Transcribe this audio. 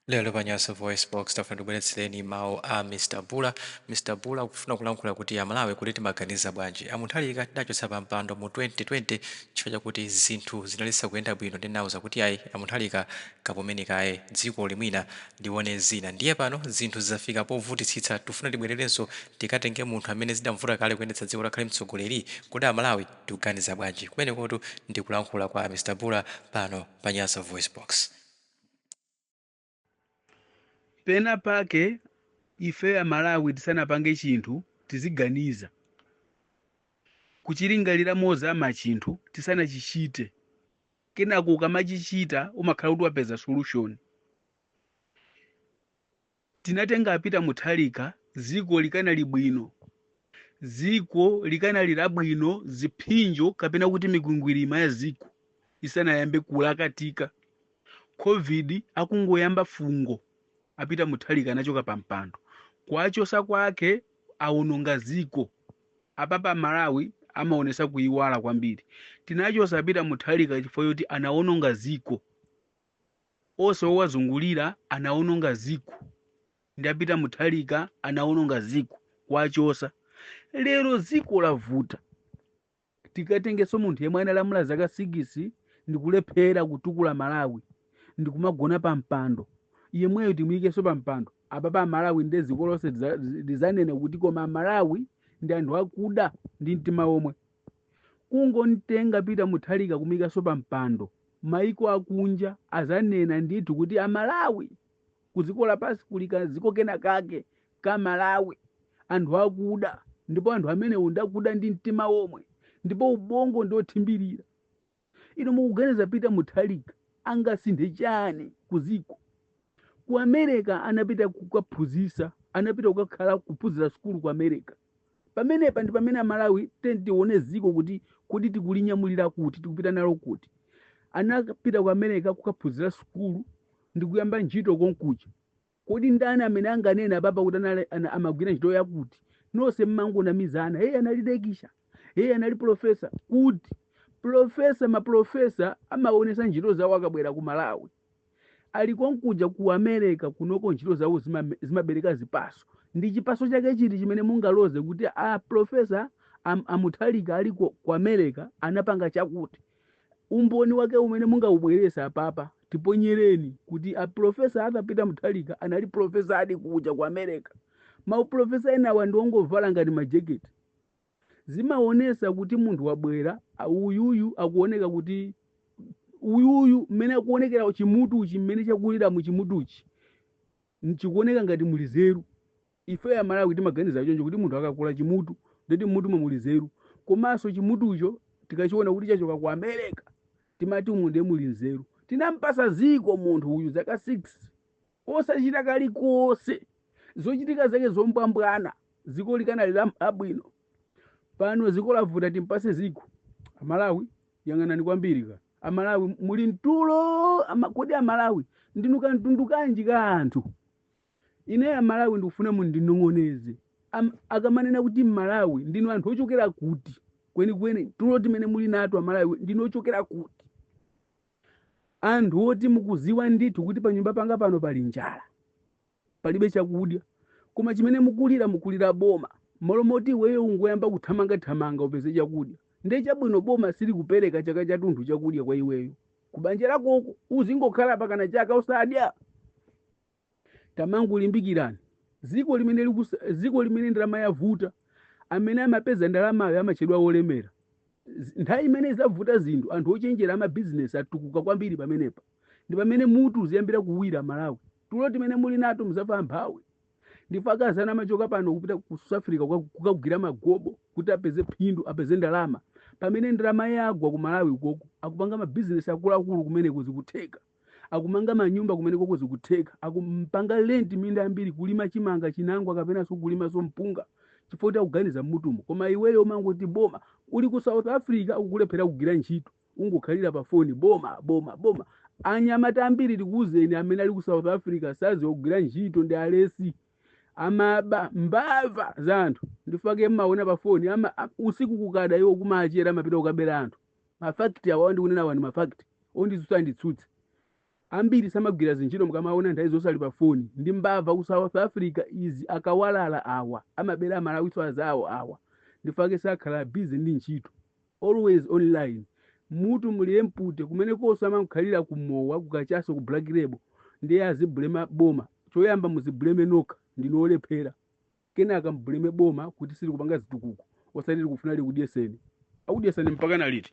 Lero pa Nyasa Voice Box tafuna tibweretsereni mawu a Mr Bula. Mr Bula akufuna kulankhula kuti Amalawi kuti timaganiza bwanji. A Mutharika tidachotsa pa mpando mu 2020 chifukwa chakuti zinthu zinali zisakuyenda bwino ndiye tinauza kuti ayi a Mutharika kapumeni kaye dzikoli mwina lione zina. Ndiye pano zinthu zafika povutitsitsa tikufuna tibwererenso tikatenge munthu amene zidamvuta kale kuyendetsa dziko kuti akhale mtsogoleri. Kodi Amalawi tikuganiza bwanji? Kumenekotu ndi kulankhula kwa a Mr Bula pano pa Nyasa Voice Box. pena pake ife amalawi tisanapange chinthu tiziganiza kuchilingalira mozama chinthu tisanachichite kenako ukamachichita umakhala kuti wapeza solution Tinatenga a Peter Mutharika ziko likanali bwino. Ziko likanali labwino ziphinjo kapena kuti mikwingwirima ya ziko isanayambe kulakatika. Covid akungoyamba fungo a Peter Mutharika anachoka pa mpando. Kuwachosa kwake awononga ziko. Apapa Amalawi amaonesa kuiwala kwambiri. Tinachosa a Peter Mutharika chifukwa choti anawononga ziko. ose owazungulira anawononga ziko ndi a Peter Mutharika anawononga ziko kuwachosa lero ziko lavuta tikatengeso munthu yemwe analamula zaka sikisi ndikulephera kutukula malawi ndikumagona pa mpando yemweyo timuyikeso pa mpando apapa amalawi nde ziko lonse lizanena kuti koma amalawi ndi anthu akuda ndi mtima omwe Kungomtenga Peter Mutharika kumuikanso pa mpando, maiko akunja azanena ndithu kuti a Malawi, ku ziko lapansi kuli ka ziko kena kake ka Malawi, anthu akuda ndipo anthu amenewo ndi akuda ndi mtima omwe ndipo ubongo ndi othimbirira. Inu mukuganiza Peter Mutharika angasinthe chani ku ziko? Ku America anapita kukaphunzisa, anapita kukakhala kuphunzira sukulu ku America. Pamenepa ndi pamene Amalawi tiyeni tione ziko kuti kodi tikulinyamulira kuti, tikupita nalo kuti. Anapita ku America kukaphunzira sukulu ndi kuyamba ntchito konkuja. kodi ndani amene anganene apapa kuti amagwira ntchito yakuti nonse mmangonamizana iye anali lekichala iye anali profesa kuti profesa maprofesa amaonesa ntchito zawo akabwera ku malawi ali konkuja ku america kunoko ntchito zawo zimabereka zipaso ndi chipaso chake chiti chimene mungaloze kuti a profesa a Mutharika aliko ku america anapanga chakuti umboni wake umene mungaubwerese papa tiponyereni kuti a profesa arthur peter muthalika anali profesa a dikukuja ku america mauprofesa enawa ndi ongovala ngati majeketi zimaonesa kuti munthu wabwera a- uyuyu akuoneka kuti uyuyu mmene akuonekera chimutuchi mmene chakulira mu chimutuchi chikuoneka ngati muli zeru Ifeyo amalawi timaganiza choncho kuti munthu akakula chimutu ndeti mmutumo muli nzeru komanso chimutucho tikachiona kuti chachoka ku America timati umu ndiye muli nzeru. Tinampasa dziko munthu uyu zaka 6 osachita kalikose zochitika zake zombwambwana dziko likanali la abwino pano dziko lavuta timpase dziko amalawi yang'anani kwambiri ka amalawi muli mtulo ama, kodi amalawi ndinu kamtundu kanji ka anthu Ineyo amalawi ndikufuna mundinong'oneze am, akamanena kuti mmalawi ndinu anthu ochokera kuti kwenikweni tulo timene muli nato amalawi ndinu ochokera kuti anthu oti mukuziwa ndithu kuti panyumba panga pano pali njala palibe chakudya koma chimene mukulira mukulira boma malo moti iweyo ungoyamba kuthamanga thamanga upeze chakudya ndiye chabwino boma silikupereka chaka chathunthu chakudya kwa iweyo kubanja lakoko uzingokhala pakana chaka usadya tamangolimbikirani ziko limene likusa- ziko limene ndalama yavuta amene amapeza ndalamayo amatchedwa olemera Z- nthawi imene zavuta zinthu anthu ochenjera amabizinesi atukuka kwambiri pamenepa ndi pamene mutu uziyambira kuwira malawi tulo timene muli nato muzafa mphawi ndipo akazana amachoka pano kupita ku south africa kuka- kukagwira magobo kuti apeze phindu apeze ndalama pamene ndalama yagwa ku malawi koko akupanga mabizinesi akuluakulu kumeneko zikutheka akumanga manyumba kumenekoko zikutheka akupanga lenti minda yambiri kulima chimanga chinangwa kapenanso kulimanso mpunga chifukwa kuti akuganiza mmutumo koma iweyo ungoti boma uli ku south africa ukulephera kugwira ntchito ungokhalira pa foni boma boma boma anyamata ambiri tikuuzeni amene ali ku south africa saziwa kugwira ntchito ndi alesi amaba mbava za anthu ndifake mmaona pa foni ama a- usiku kukada iwo kumachera amapita kukabera anthu mafakiti awa ndikunena wani mafakiti onditsutsa anditsutse ambiri samagwira zintchito mukamaona nthawi zonse ali pa foni ndi mbava ku south africa izi akawalala awa amabera amalawiso azawo awa ndifake sakhala busy ndi ntchito always online mutu mulije mpute kumene konse amakhalira kumowa kukachaso ku black label ndiye azibulema boma choyamba muzibuleme nokha ndinu olephera kenaka mbuleme boma kuti silikupanga zitukuko osati mukufuna likudyeseni akudyeseni mpaka na liti